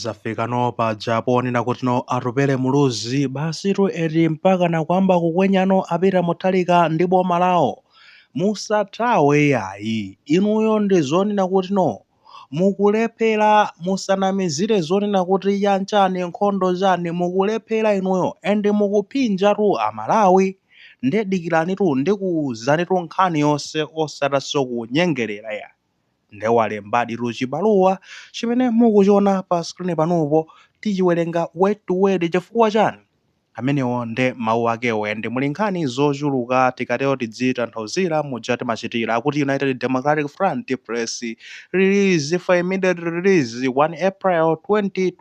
zafika no paja ponena kuti no atupele muluzi basitu eti mpaka nakwamba kukwenyano apita muntharika ndi boma lawo musathawe yayi inuyo ndi zonena kuti no mukulephera musanamizire zonena kuti yanchani nkhondo chani mukulephera inuyo and mukuphinja tu amalawi ndedikirani tu ndikuuzani tu nkhani yonse osatinso kunyengerera yayi nde walembaditu chibaluwa chimene mukuchiona pa screen panopo tichiwerenga word to word chifukwa chani? amenewo nde mau akewo and muli nkhani zochuluka tikatero tidzitanthauzira muja timachitira akuti United Democratic Front press release for immediate release 1 April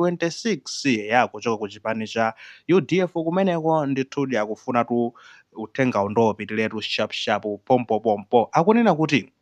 2026 eya kuchoka ku chipani cha udf kumeneko ndithudi akufunatu uthengawu nde upitiretu shapshapu pompopompo akunena kuti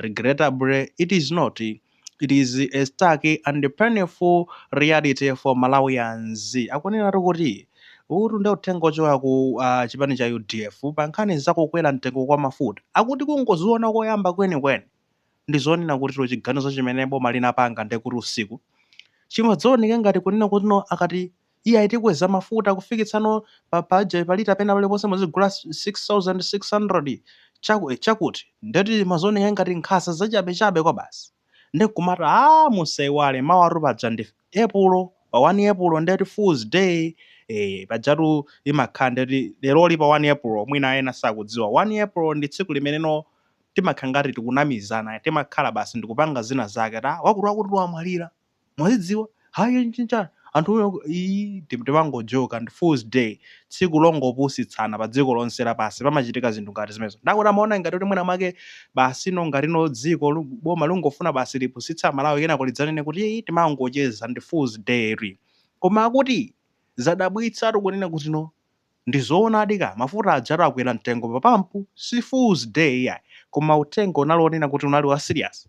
Regrettably, it is not. It is a stark and painful reality for Malawians. Akunenatu kuti uwutu nde uthenga ochoka ku ah, chipani cha udf pa nkhani za kukwera mtengo kwa mafuta akuti kungoziona koyamba kwenikweni ndi zonena kutilo chiganizo chimene boma linapanga ndi kuti usiku chimadzaooneka ngati kunena kuti no akati Iyayi tikweza mafuta kufikitsa no pa paja pa lita pena paliponse muzigula 6600 chaku, chakut ndeti zimaoneka ngati nkhamba zachabe chabe kwabasi nde nkumat aah musaiwale mawatu paja ndi epulo pa 1 epulo ndet fools day eeh pajatu imakhala ndet leroli pa 1 epulo mwina ena sakudziwa 1 epulo ndi tsiku limene no timakhala ngat tikunamizana timakhala basi ndikupanga zina zake ati aah wakuti wakuti wamwalira mwazidziwa ayi nchinchani anthu iyi timangojoka ndi fools day tsiku longopusitsana pa dziko lonse lapansi pamachitika zinthu ngati zimenezo nde akuti amaona ngati kuti mwina mwake basi no ngati no dziko boma lungofuna basi lipusitse amalawi kenako lidzanene kuti iyi timangocheza ndi fools day ri koma akuti zadabwitsatu kunena kuti no ndizoonadi ka mafuta ajatu akwera mtengo pa pampu si fools day yayi koma uthenga unali onena kuti unali wa serious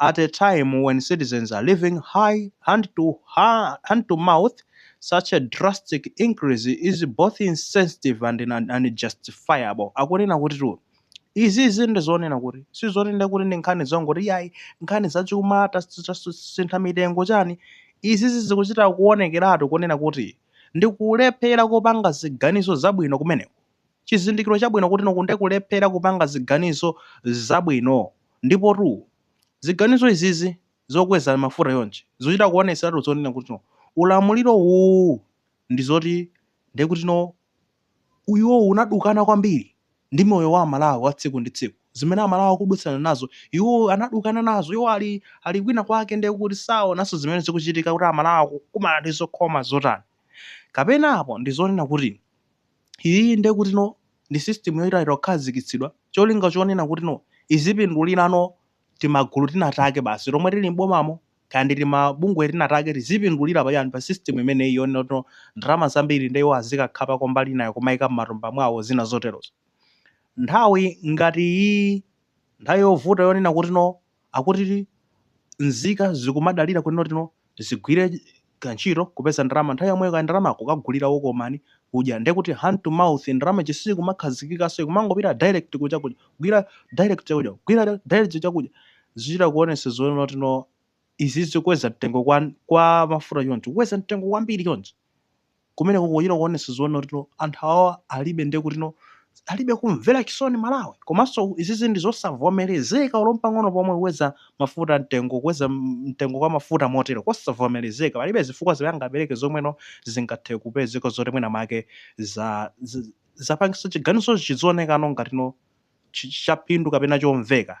at a time when citizens are living high hand to hand to mouth, such a drastic increase is both insensitive and unjustifiable. Akunena kuti tu izizi ndi zonena kuti sizonena kuti ndi nkhani zongoti yayi nkhani zachuma tas- tas- sintha mitengo chani izizi zikuchita kuonekeratu kunena kuti ndi kulephera kupanga ziganizo zabwino kumeneko. chizindikiro chabwino kuti no ndi kulephera kupanga ziganizo zabwino. Ndipotu ziganizo izizi zokweza mafuta chonchi zichita kuonetseratu zonena kuti ulamuliro uwu ndi zoti nde kuti iwowo unadukana kwambiri ndi moyo wa Amalawi wa tsiku ndi tsiku. Zimene Amalawi akudutsana nazo iwo anadukana nazo. Iwo ali kwina kwake nde kuti saonanso zimene zikuchitika kuti Amalawi akukumana ndi zokhoma zotani. Kapena apo ndi zonena kuti. Iyiyi ndiye kuti no ndi system yochita kukhazikitsidwa cholinga chonena kuti no izipindulira no timagulu tina take basi tomwe tili m'bomamo kaya ndi timabungwe tina take tizipindulira pa chani pa system imeneyi yonena kuti no ndalama zambiri ndiye iwo azikakhapako mbali inayo kumaika m'matumba mwawo zina zoterozo. Nthawi ngati iyiyi, nthawi yovuta yonena kuti no akuti nzika zikumadalira kuti no zigwire kantchito kupeza ndalama nthawi yomweyo kandalama kukagulira wokomani kudya nde kuti hand to mouth ndalama ija siyikumakhazikikanso ikumangopita direct ku chakudya kugwira direct chakudya kugwira direct chakudya zichita kuonesa zonena kuti no izizi kukweza mtengo kwa mafuta choncho kukweza mtengo kwambiri choncho kumeneku kuchita kuonetsa zonena kuti no anthu awawa alibe ndiye kuti no alibe kumvera chisoni Amalawi komanso izizi ndi zosavomerezeka olo mpang'ono pomwe kukweza mafuta mtengo kukweza m- mtengo kwa mafuta motero kosavomerezeka palibe zifukwa zimene angapereke zomwe no zingathe kupezeka zoti mwina make za za- zapangitsa chiganizo chizionekano ngati no chi- chaphindu kapena chomveka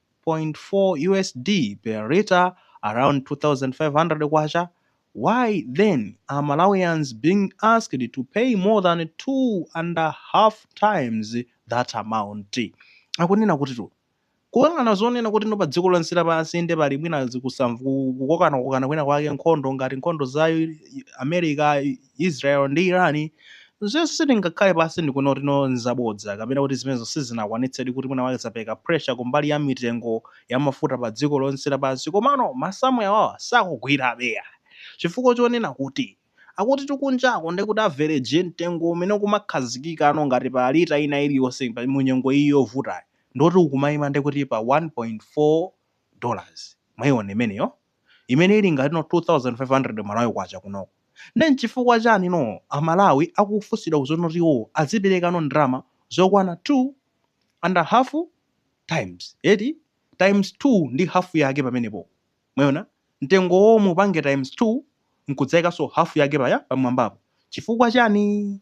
1.4 USD per litre around K2500 why then are Malawians being asked to pay more than two and a half times that amount? Akunena kutitu kuyang'ana zonena kuti no pa dziko lonse lapansi inde pali mwina zikusamv- ku- kukokanakokana kwina kwake nkhondo ngati nkhondo za America Israel ndi Iran zimenezo sitingakhale pansi ndikunena kuti no nzabodza kapena kuti zimenezo sizinakwanitsedi kuti mwina mwake zapereka pressure kumbali ya mitengo ya mafuta pa dziko lonse lapansi komano masamu awawa sakugwirabe ya chifukwa chonena kuti akutitu kunjako ndekuti average mtengo umene ukumakhazikika no ngati pa lita ina iliyonse mu nyengo iyi yovutayi ndoti ukumaima ndekuti pa 1.4 dollars mwaiona imeneyo imene ili ngati no 2500 Malawi kwacha kunoko nde nchifukwa chani no a Malawi akufunsidwa ku zoti iwo azipereka no ndalama zokwana 2 and half times eti times 2 ndi half yake pamenepo mwayiona mtengo womwe upange times 2 nkudzaikanso half yake paya pamwambapo chifukwa chani?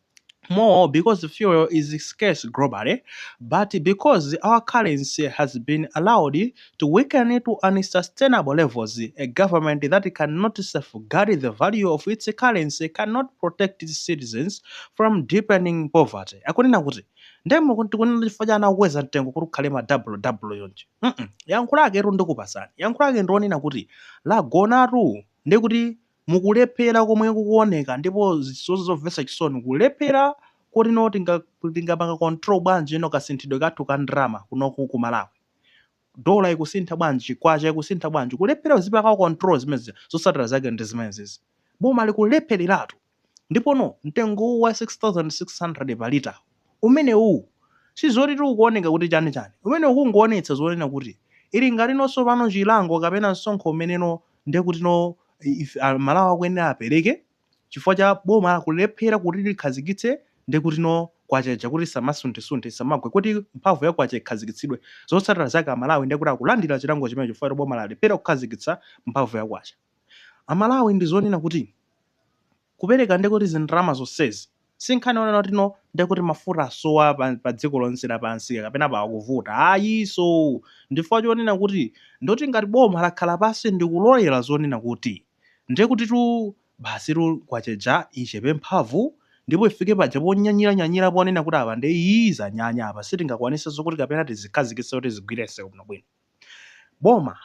more because fuel is scarce globally, but because our currency has been allowed to weaken to unsustainable levels, a government that cannot safeguard the value of its currency cannot protect its citizens from deepening poverty. Akunena kuti nde muku- tikunena chifukwa cha anakweza mtengo kuti ukhale ma double double yonje Mm-mm. yankho lake ero ndikupasani yankho lake ndionena kuti lagonatu ndikuti nkulephera komwe kukuoneka ndipo nzomvetsa chisoni kulephera kotino tinga tingapanga control bwanji you know kasinthidwe kathu ka ndalama kunoku ku Malawi dola ikusintha bwanji kwacha ikusintha bwanji kulephera kuzipanga control zimenezi zotsatira zake ndi zimenezizi boma likulephereratu ndipono mtengo wa 6600 pa lita umenewu si zoti tikuoneka kuti chani chani. Umenewu ukungoonetsa zonena kuti ili ngatino tsopano chilango kapena msonkho umeneno ndiye kutino a Malawi akuyenera apereke chifukwa cha boma kulephera kuti likhazikitse ndiye kutino Kwacha ija kuti isamasunthesunthe, isamagwe, kuti mphamvu ya Kwacha ikhazikitsidwe. Zotsatira zake a Malawi ndiye kuti akulandira chilango chimenecho chifukwa choti boma lalephera kukhazikitsa mphamvu ya Kwacha. A Malawi ndi zonena kuti. Kupereka nde kuti zindalama zonsezi si nkhani yonena kutino nde kuti mafuta asowa pa pa dziko lonse lapansi kapena pa akuvuta ayiso. Ndi chifukwa chonena kuti ndi kuti ngati boma lakhala pansi ndi kulolera zonena kuti nde kutitu basitu Kwacha ija ichepe mphamvu ndipo ifike paja ponyanyiranyanyira ponena kuti apa nde iih zanyanya apa sitingakwanise zokuti kapena tizikhazikitse kuti zigwirense bwinobwino. boma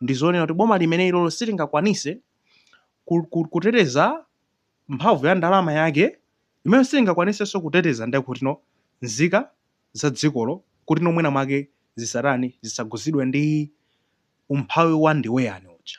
ndizonena kuti boma limene ilolo silingakwanise kuteteza mphamvu ya ndalama yake yomwe silingakwanisenso kuteteza nde kutino nzika za dzikolo kutino mwina mwake zisatani zisakhudzidwe ndi umphawi wa ndiwe yani uja.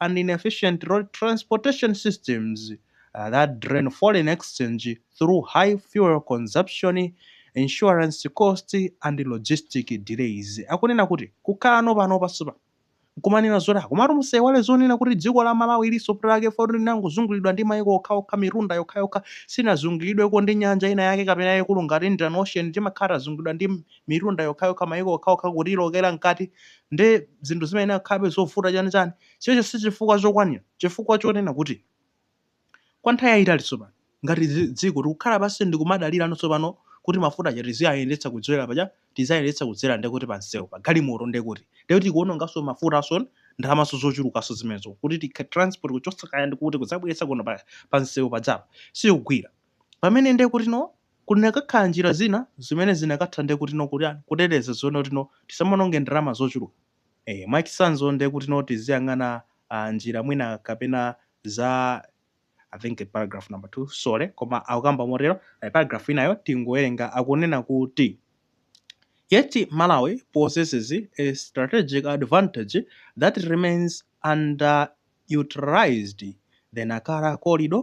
and inefficient road transportation systems that drain foreign exchange through high fuel consumption, insurance cost, and logistic delays. Akunena kuti kukhalano pano pasupa nkumanena zoti komatu musaiwale zonena kuti dziko la Malawi lili pamalo poti linangozungulidwa ndi maiko okhaokha mitunda yokhayokha sinazungulidweko ndi nyanja ina yake kapena yaikulu ngati Indian Ocean timakhala tazungulidwa ndi mitunda yokhayokha maiko okhaokha kutilowetsera mkati Ndiye zinthu zimayenera kukhalabe zovuta chani chani. Chimenecho si chifukwa chokwanira, chifukwa chonena kuti kwa nthawi yayitali tsopano ngati dzi, dziko tikukhala pansi ndi kumadalirano tsopano kuti mafuta aja tiziayendetsa kudzera paja, tiziayendetsa kudzera ndiye kuti pa msewu, pa galimoto ndiye kuti, ndiye kuti tikuwononganso mafutanso, ndalamanso zochulukanso zimenezo kuti tikha, transport kuchotsa kaya ndi kuti kudzabweretsa kuno pa, pa msewu pajapa sikugwira. Pamene ndiye kuti no. Kunakakhala njira zina zimene zinakatha nde kuti no kutani kuteteza zonena kuti no tisamaononge ndalama zochuluka eeh mwachitsanzo nde kuti no tiziyang'ana aah njira mwina kapena za I think paragraph number 2 sorry koma akukamba motero eeh paragraph inayo tingowerenga akunena kuti Yet Malawi possesses a strategic advantage that remains underutilized, the Nacala Corridor,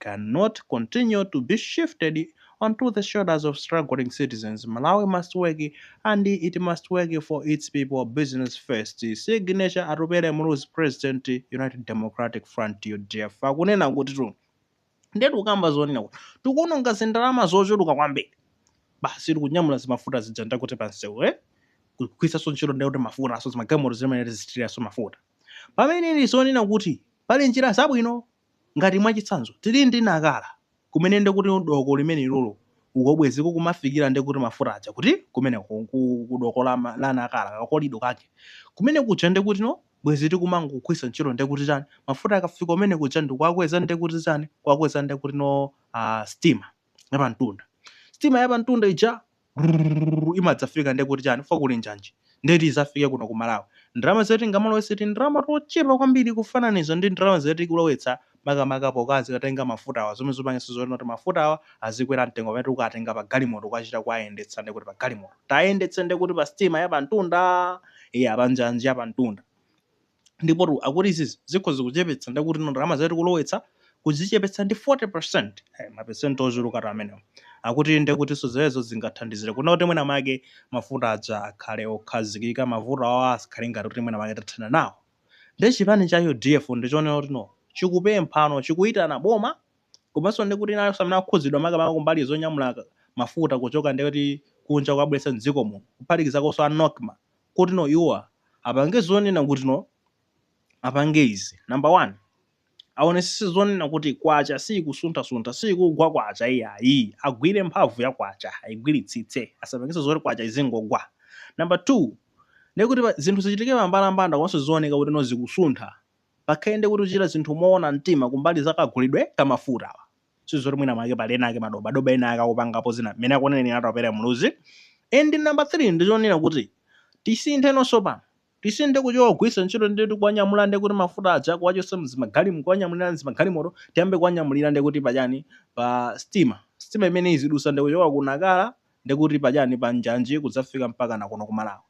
can not continue to be shifted onto the shoulders of struggling citizens, Malawi must work and it must work for its people, business first, Signature Atupele Muluzi President, United Democratic Front, udf akunena kuti tu ndiye tikukamba zonena kuti tikuononga zindalama zochuluka kwambiri basi tikunyamula zimafuta zija ndakuti pansewu eh? kugwiritsanso ntchito ndakuti mafuta aso zimagalimoto zimene tizitiriranso mafuta pamene ndi zonena kuti pali njira zabwino Ngati mwachitsanzo, tili ndi Nakala kumene nde kuti doko limene ilolo uko bwezi kukumafikila nde kuti mafuta aja kuti kumeneko ku doko la Nakala ka kolido kake kumene kuja nde kuti no bwezi tikumangogwiritsa ntchito nde kuti chani mafuta akafika kumene kuja ndikuwakweza nde kuti chani kuwakweza nde kuti no aah stima ya pamtunda stima ya pamtunda ija Brrrr imadzafika nde kuti chani chifukwa kuli njanji nde kuti izafike kuno ku Malawi. Ndalama zimene tingamaononge tindalama tochepa kwambiri kufananiza ndi ndalama zimene tikulowetsa makamaka pokazikatenga mafutawa zomwe zupangitsa zonena kuti mafutawa azikwera mtengo pamene tikukatenga pa galimoto kukachita kuwayendetsa nde kuti pa galimoto tayendetse nde kuti pa sitima ya pamtunda eya panjanji ya pamtunda. Ndipotu akuti izizi zikhoza kuchepetsa ndiye kutino ndalama zimene tikulowetsa kuzichepetsa ndi 40 percent. Hey, mapesenti ochulukatu amenewo. Akuti ndiye kutinso zimenezo zingathandizire kunena kuti mwina mwake mafuta aja akhale okhazikika, mavuto awa asakhale ngati kuti mwina mwake tathana nawo. Ndiye chipani cha udf ndi chonena kutino chikupemphano, chikuyitana boma komanso ndiye kuti nawo onse amene akukhudzidwa makamaka kumbali zonyamula mafuta kuchoka ndiye kuti kunja kukabweretsa m'dziko muno, kuphatikizakonso a Nocma kutino iwowa apange zonena kutino apange izi number one aonesese zonena kuti kwacha siikusunthasuntha siikugwa kwacha iyayi agwire mphamvu ya kwacha aigwiritsitse asapangise zoti kwacha izingogwa number two ndiye kuti zinthu zichitike pa mbalambanda komanso zizioneka kutino zikusuntha pakhale ndiye kuti kuchita zinthu moona mtima kumbali za kagulidwe ka mafutawa sizoti mwina mwake pali ena ake madobadoba ena ake akupangapo zina mmene akunenera Atupele Muluzi and number 3 ndichonena kuti tisinthe nonso pano tisinthe kuchoka kugwiritsa ntchito ndi tikuwanyamula ndi kuti mafuta aja kuwachotsa mzimagalimo kuwanyamulira mzimagalimoto tiyambe kuwanyamulira ndi kuti pachani pa stima stima imene izidutsa ndi kuchoka ku Nakala ndi kuti pachani pa njanji kudzafika mpaka nakuno ku Malawi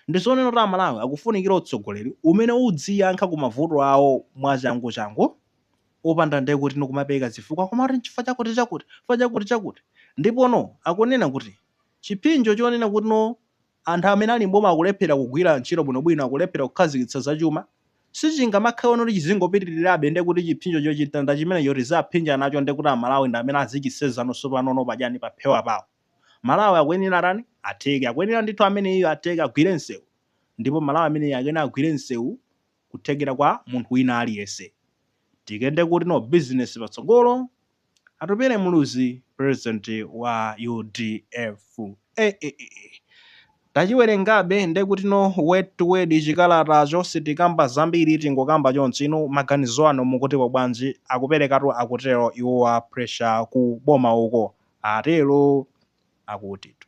Ndizonena kuti amalawi akufunikira utsogoleri umene udziyankha ku mavuto awo mwachangu changu opanda nde kuti nkumapereka zifukwa koma kuti nchifukwa chakuti chakuti chifukwa chakuti chakuti ndipo no akunena kuti chiphinjo chonena kuti no anthu amene ali m'boma akulephera kugwira ntchito bwino bwino akulephera kukhazikitsa za chuma sichingamakhale no kuti chizingopitilirabe nde kuti chiphinjo chochita ngati chimenecho tizaphinja nacho nde kuti amalawi ndi amene azichisenza no sopano no padyani paphewa pawo Malawi akuyenera atani? Atheke. Akuyenera ndithu ameneyu atheke agwire msewu. Ndipo Malawi ameneyu akuyenera agwire msewu kuthekera kwa munthu wina aliyense. Tikende kuti no business patsogolo. Atupele Muluzi president wa udf. EEEE! Tachiwerengabe ndekuti no word to word chikalatacho sitikamba zambiri tingokamba chonchi inu maganizo anu mukutipo bwanji akuperekatu akutero iwo wa pressure ku boma uko atero akutitu.